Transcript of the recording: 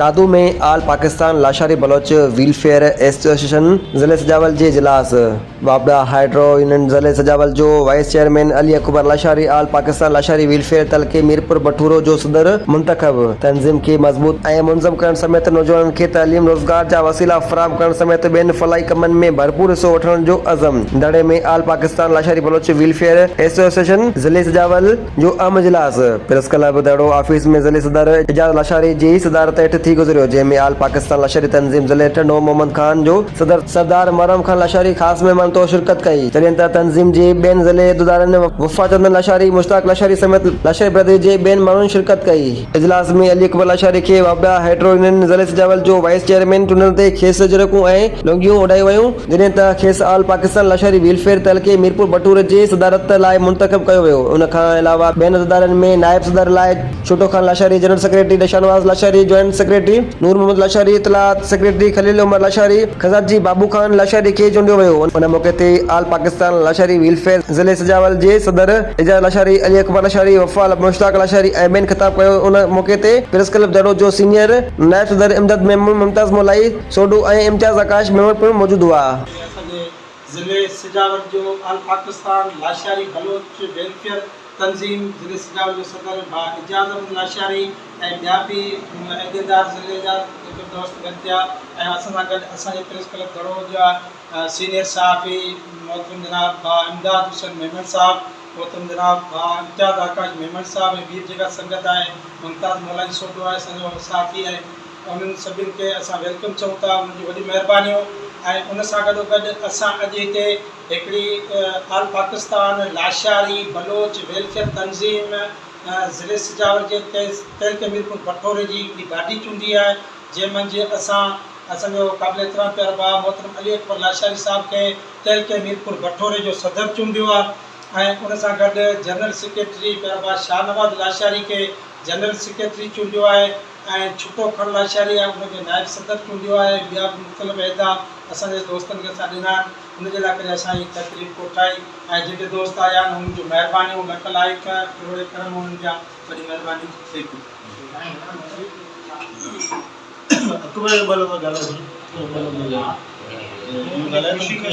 Dadu ۾ all Pakistan Lashari Baloch welfare association ضلعي سجاول جي اجلاس واپڊا هائيڊرو يونين ضلعي سجاول جو vice chairman Ali Akbar Lashari all Pakistan Lashari welfare تعلقي ميرپور بٺورو جو صدر منتخب تنظيم کي مضبوط ۽ منظم ڪرڻ سميت نوجوانن کي تعليم، روزگار جا وسيلا فراهم ڪرڻ سميت ٻين فلاحي ڪمن ۾ ڀرپور حصو وٺڻ جو عزم. دڙي ۾ all Pakistan Lashari Baloch welfare association ضلعي سجاول جو اهم اجلاس پريس ڪلب دڙو آفيس ۾ ضلعي صدر اعجاز لاشاري جي صدارت هيٺ ٿي گذريو جنهن ۾ آل پاڪستان لاشاري تنظيم ضلعي ٽنڊو محمد خان جو صدر سردار محرم خان لاشاري خاص مهمان طور شرڪت ڪئي، جڏهن ته تنظيم جي ٻين ضلعي عهديدارن وفا چندن لاشاري، مشتاق لاشاري سميت لاشاري برادري جي ٻين ماڻهن شرڪت ڪئي. اجلاس ۾ علي اڪبر لاشاري کي وابيا هائيڊرو يونين ضلعي سجاول جو وائيس چيئرمين چونڊڻ تي کيس جرڪون ۽ لونگيون اڏايون ويون، جڏهن ته کيس آل پاڪستان لاشاري ويلفيئر تعلقي ميرپور بٽور جي صدارت لاء منتخب ڪيو ويو، ان کان علاوه ٻين عهديدارن ۾ نائب صدر لاء. ڇوٽو خان لاشاري، جنرل سيڪريٽري دشانواز لاشاري، جوائنٽ سيڪريٽري نور محمد لاشاري، اطلاعات سيڪريٽري خليل عمر لاشاري، خزانچي بابو خان لاشاري کي چونڊيو ويو. ان موقعي تي آل پاڪستان لاشاري ويلفيئر ضلعي سجاول جي صدر اعجاز لاشاري، علي اڪبر لاشاري، وفا مشتاق لاشاري ۽ ٻين خطاب ڪيو. ان موقعي تي پريس ڪلب جهڙو جو سينيئر نائب صدر امداد ميمڻ، ممتاز مولائي سوڍو ۽ امتياز آڪاش ميمڻ پڻ موجود هئا. سڄي ضلعي سجاول جو آل پاڪستان لاشاري بلوچ ويلفيئر تنظيم ضلعي اسٽرام جو صدر ڀاء اعجاز احمد لاشاري ۽ ٻيا به عهديدار ضلعي جا هڪ دوست گڏ ٿيا ۽ اسان سان گڏ اسان جي پريس ڪلب گهڙوء جا سينيئر صحافي محترم جناب ڀاء امداد حسين ميمڻ صاحب، محترم جناب ڀاء امتياز آڪاش ميمڻ صاحب ۽ ٻي به جيڪا سنگت آهي، ممتاز مولاني سوڍو آهي اسان جو صحافي ۽ انهن سڀني کي اسان ويلڪم چئون ٿا انهن جون وڏيون مهربانيون ۽ ان سان گڏو گڏ اسان اڄ هتي هڪڙي آل پاڪستان لاشاري بلوچ ويلفيئر تنظيم ضلعي سجاول جي تعلقي ميرپور پٺوري جي هڪڙي گاڏي چونڊي آهي جنهن منجهه اسان اسان جو قابل احترام پيارو بابا محترم علي اڪبر لاشاري صاحب کي تعلقي ميرپور پٺوري جو صدر چونڊيو آهي ۽ ان سان گڏ جنرل سيڪريٽري پيارو بابا شاهنواز لاشاري کي جنرل سيڪريٽري چونڊيو آهي ۽ ڇٽو کڻ لاشاري آهي ان کي نائب صدر چونڊيو آهي ٻيا به مختلف عهدا اسان جي دوستن کي اسان ڏنا آهن ان جي لاء ڪري اسان هي تقريب ڪوٺائي ۽ جيڪي دوست آيا آهن انهن جون مهربانيون لک لائق ڪروڙين ڪرم انهن جا وڏي مهرباني ٿئي ٿي. اڪبر اقبال ٻه لفظ ڳالهائجي ٻه لفظ ڳالهائي ته مونکي